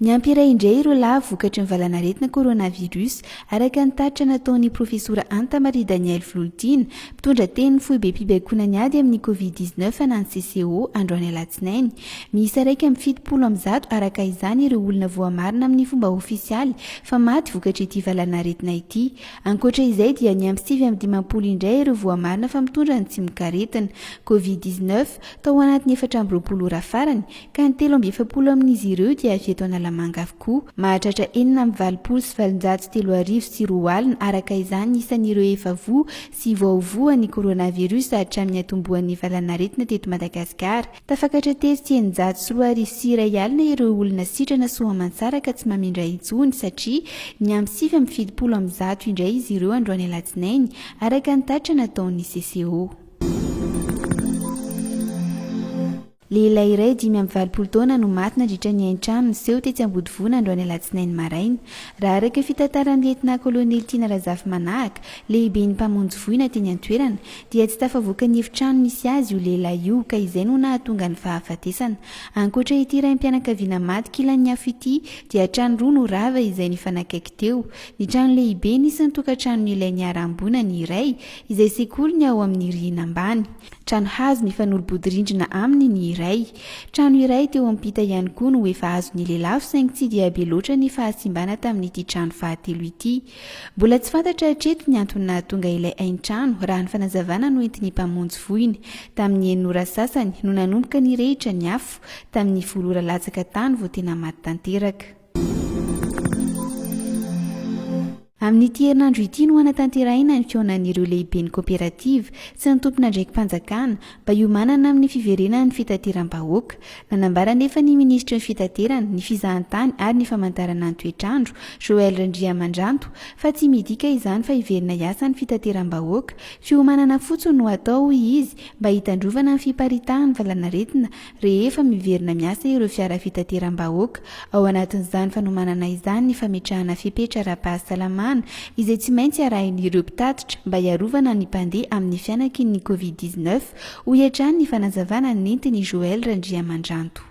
Niampy iray indray ireo lahy vokatry ny valanaretina coronavirus, araka ny tatitra nataon'ny Profesora Anta Maria Danielle Vololtiana, mpitondra tenin'ny foibem-pibaikoana ny ady amin'ny Covid 19 na ny CCO, androany alatsinainy. Miisa iraika amby fitopolo amin'ny zato araka izany ireo olona voamarina amin'ny fomba ofisialy fa maty vokatr'ity valanaretina ity. Ankoatra izay dia niampy sivy amby dimampolo indray ireo voamarina fa mitondra ny tsimok'aretina Covid dix neuf tao anatin'ny efatra amby roapolo ora farany ka ny telo amby efapolo amin'izy ireo dia avy eto Analamanga avokoa. Mahatratra enina amby valopolo sy valonjato sy telo arivo sy roa alina araka izany ny isan'ireo efa voa sy voaho voan'ny coronavirus hatramin'ny hatombohan'ny valanaretina teto Madagasikara. Tafakatra tery sy eninjato sy roa arivo sy iray alina ireo olona sitrana soamantsara ka tsy mamindra intsony satria niampy sivy amby fitopolo amby zato indray izy ireo androany alatsinainy, araka ny tatitra nataon'ny CCO. Lehilahy iray dimy amby valopolo taona no maty nandritra ny hain-trano niseho tetsy Ambodivona androany alatsinainy maraina, raha araka ny fitantaran'ny lietnà kolonely Tiana Razafimanahaka, lehiben'ny mpamonjy voina teny an-toerana, Dia tsy tafavoaka ny efitrano nisy azy io lehilahy io ka izay no nahatonga ny fahafatesana. Ankoatra ity raim-pianakaviana maty kilan'ny afo ity dia trano roa no rava izay nifanakaiky teo. Ny trano lehibe nisy ny tokantranon'ilay niharam-boina ny iray izay sekoly ny ao amin'ny rihina ambany. Trano hazo nifanolo-bodirindrina aminy ny iray. Trano iray teo ampita ihany koa no efa azon'ny lelafo saingy tsy dia be loatra ny fahasimbana tamin'ity trano fahatelo ity. Mbola tsy fantatra hatreto ny antony nahatonga ilay haintrano, raha ny fanazavana noentin'ny mpamonjy voina. Tamin'ny enina ora sasany no nanomboka nirehitra ny afo, tamin'ny folo ora latsaka tany vao tena maty tanteraka. Amin'ity herinandro ity no hanatanterahina ny fihaonan'ireo lehiben'ny koperativa sy ny tompon'andraiki-panjakana, mba hiomanana amin'ny fiverenan'ny fitateram-bahoaka. Nanambara anefa ny minisitry ny Fitaterana, ny Fizahantany ary ny Famantarana ny Toetr'andro, Joël Randriamandranto, fa tsy midika izany fa hiverina hiasa ny fitateram-bahoaka. Fiomanana fotsiny no atao, hoy izy, mba hitandrovana ny fiparitahan'ny valanaretina rehefa miverina miasa ireo fiara fitateram-bahoaka. Ao anatin'izany fanomanana izany ny fametrahana fepetra ara-pahasalamana izay tsy maintsy arahin'ireo mpitatitra mba hiarovana ny mpandeha amin'ny fianakin'ny Covid dix neuf, hoy hatrany ny fanazavana nentin'i Joël Randriamandranto.